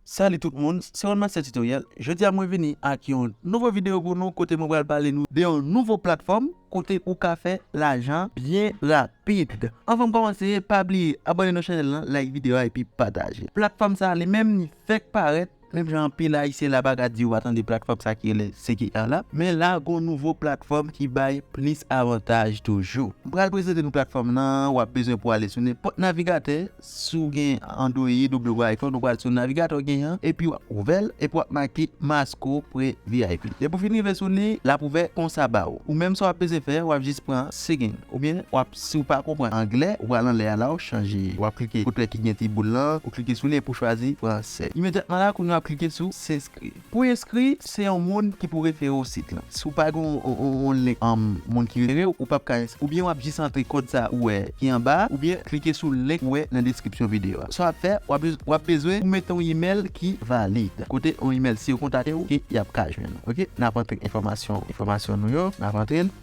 Salut tout moun, se Webmaster Tutoriel, jodi a mwen vini ak yon nouvo video pou nou kote mwen pral pale nou de yon nouvo platfòm kote ou ka fè lajan byen rapid. Anvan m kòmanse pa bliye abòne nan chanèl lan, like video a epi pataje. Platfòm sa li menm li fèk parèt, menm jan anpil ayisyen la pa ka di yo pa tande platfòm sa ki rele CKR la, men la gon nouvo platfòm ki bay plis avantaj toujou. M pral prezante nou platfòm lan, wap bezwen pou ale sou nenpòt navigatè. Si w gen Android oubyen w gen iPhone ou pral sou navigatè w gen an epi wap ouvè l epi wap make Masco Pre vip depi w fin rive sou li lap ouvè konsa ba w ou menm sa wap bezwen fè wap jis pran sign oubyen wap si w pa konpran anglè ou pral anlè a la w chanje wap klike kote ki gen ti boul lan ou klike sou li epi w chwazi fransè imedyatman la kounye w ap klike sou s'inscri. Pou enskri, se yon moun ki pou refere w sit lan. Si w pa gen yon link moun ki refere w, ou pap ka enskri. Oubyen w ap jis antre kòd sa ou wè ki anba a, oubyen klike sou link ou wè nan deskripsyon videyo a. Sa w ap fè, w ap bezwen pou mete yon imèl ki valid. Kote yon imèl si yo kontakte w ke y ap ka jwenn ou. Ok, n ap antre enfòmasyon nou yo, n ap antre l.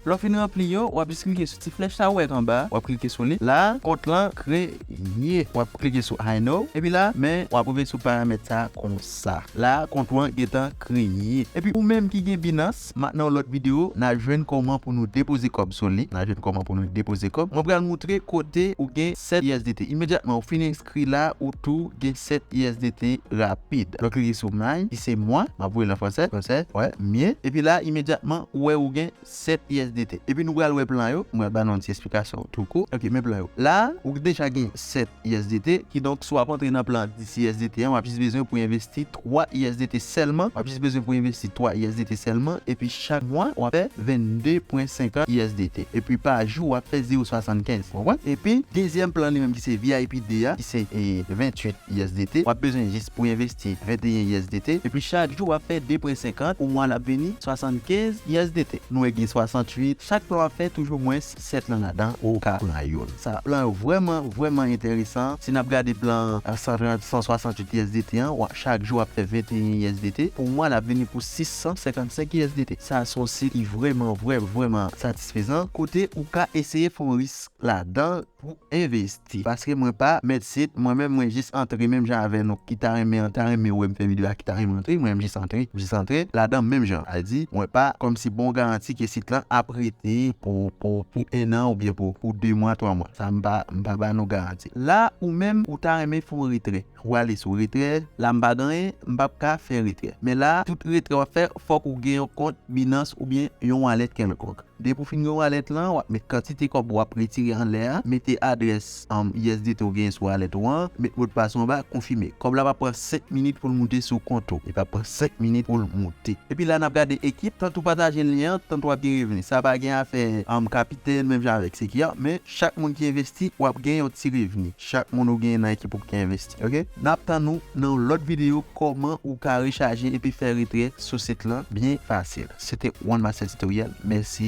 Lè w fin ranpli yo, wap jis klike sou ti flèch sa ou wè anba a, wap klike sou li. La a, kont lan kreye. Wap klike sou I know epi la a, men wap rive sou paramèt sa a konsa. La a, kont ou an gentan kreye. Epi ou menm ki gen Binance, ma nan yon lòt video, na jwenn kòman pou nou depoze kòb sou li. Na jwenn kòman pou nou depoze kòb. Mwen pral moutre kote ou gen 7 usdt. Imedyatman ou fin. Kri la ou tou gen 7 usdt rapid. Lè w klike sou mine ki se mwa, m ap voye l an fransè, fransè, wè, mye, epi la imedyatman ou wè ou gen 7 usdt. Epi nou pral wè plan yo, m pral ba nou yon ti esplikasyon tou kou. Ok men plan yo. La a ou deja gen 7 usdt, kidonk si w ap antre nan plan 10 usdt an w ap jis bezwen pou envesti 3 usdt sèlman, wap jis bezwen pou envesti 3 usdt sèlman epi chak mwa wap fè 22.50 usdt epi pa jou wap fè 0.75 ou konprann? Epi dezyèm plan li menm ki se vip 2 a ki se 28 usdt wap bezwen jis pou envesti 21 usdt epi chak jou wap fè 2.50 pou mwa lap vini 75 usdt nou wè gen 68 chak plan wap fè toujou mwens 7 nan ladan ou ka pran youn sa plan yo vrèman vrèman entèresan si nap gade plan 130 168 usdt an wap chak jou wap fè 21 usdt pou mwa lap vini pou 655 usdt sa son sit ki vrèman vrèman vrèman satisfezan kote ou ka eseye fon risk ladan pou envesti paske mwen pa mèt sit mwen menm mwen jis antre menm jan avè nou ki ta renmen an ta renmen wèm fè video a ki ta renmen antre mwen jis antre jis antre ladan menm jan a di mwen pa kòmsi bon garanti ke sit lan ap rete pou pou pou 1 an oubyen pou pou 2 mwa 3 mwa sa mpa mpa ba nou garanti la ou menm ou ta renmen fon retrè. Ou ale sou retrè, la m pa ganyen, m pap ka fè retrè. Men la, tout retrè wap fè, fòk ou gen yon kont Binance oubyen yon wallet kèlkonk. Depi ou fin gen wallet lan, wap met kantite kòb wap retire anlè a, mete adrès USDT ou genyen sou wallet ou an, met modpas ou anba, konfime. Kòb la pap pran 5 minit poul moute sou kont ou. Li pap pran 5 minit poul moute. Epi la nap gade ekip, tant ou pataje lyen an, tant wap gen revni. Sa pa gen afè kapitèn menm jan avèk sekyè, men chak moun ki envesti wap gen yon ti revni. Chak moun ou genyen nan ekip ou ki envesti ok. Nap tann ou nan yon lòt video kòman ou ka rechaje epi fè retrè sou sit lan byen fasil. Se te one master tutorial mèsi.